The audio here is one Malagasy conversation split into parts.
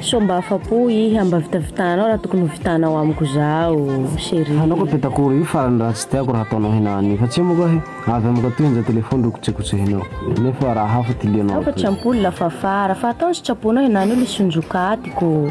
Sao mba afa-po iha mba vitavitahanao raha tokony ho vitanao amiko zaho chérie. Hanao koa petakoro io farany raha tsy tiako raha ataonao hina anio fa tsia moa koa he avy amiko aty henja telefony ro kotsehotsehinao nefa raha hafa ty lianao Afa tsy ampoule la fafara fa ataony sitraponao hina anio le sonjoka atiko.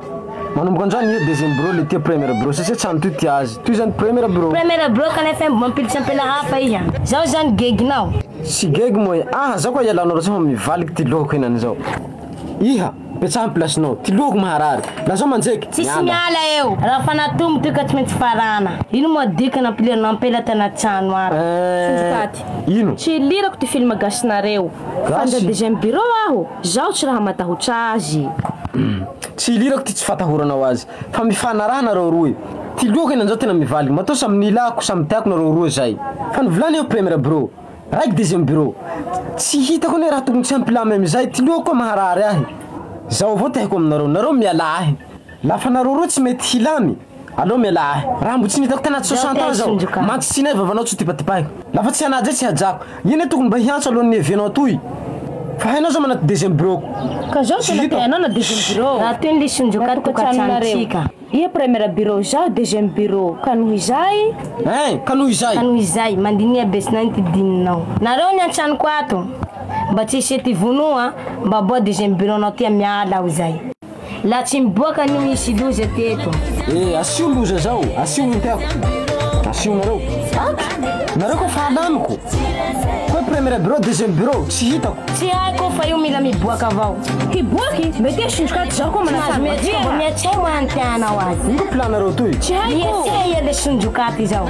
Manomboka anjany io deuxième bureau le tia première bureau satsia tsy an'toy tia azy toy zany première bureau. Première bureau kanefa mbo mampiditra ampela hafa iha. Zao zany geginao. Tsy gegy moa iha. Aha zao koa ialanao ratsy fa mivaliky ty lohako henany zao. Iha, betsaha ny place-nao. Ty lohako maharary. Lazao manjeky. Tsisy miala eo. Raha fanatomo ty ka tsy maintsy farana. Ino moa dika nampilirinao ampela tana trano ato. Eeh. Ino. Tsy ilirako ty film gasy nareo. Gasy? Fanja deuxième bureau aho. Zaho tsy raha matahotra azy e. Tsy ilirako ty tsy fatahoranao azy fa mifanaraha nareo roa e. Ty lohako eny anzao tena mivaly moto samy ny ilako samy tiako nareo roa zay fa ny volana eo première bro raiky deuxième bro tsy hitako anie raha tokony tsy hampilamy amizay ty lohako koa maharary ahy zao avao ty haiko aminareo nareo mialà ahy La fanareo roa tsy mety hilamy aleo mialà ahy raha mbo tsy nitako tena tsy soixante ans zao mantsy tsy inay vavanao tsy tibatibaiko la fa tsy hanaja e tsy hajako ino e tokony mba hiantso alohan ny evenao atoy fa hainao zao manao deuxième bureauko Ka zao tena te hanao na deuxième bureau Raha toy ny lisonjoka tokantranontsika. Iha première bureau izaho deuxième bureau ka noho izay. Hein ka noho izay. Ka noho izay mandiniha be tsy naninto dininao. Nareo ny antsanoko ato. Mba tsy hisy ety vonoa mba aboa deuxième bureau nao tia miala aho izay. La tsy miboaka anio hisy loza teto. E asio loza zao, asio minty ako. Asio nareo. Aky! Nareo ko fa alaniko. Ko premier bureau, deuxième bureau, tsy hitako. Tsy haiko fa io mila miboaka avao. Hiboaky? Mety hoe sindroka ty zao ko manao sary madio a. Mihatseha moa ny tianao azy. Ino ko plan nareo toy? Tsy haiko. Mihatseha iha le sindroka ty zao.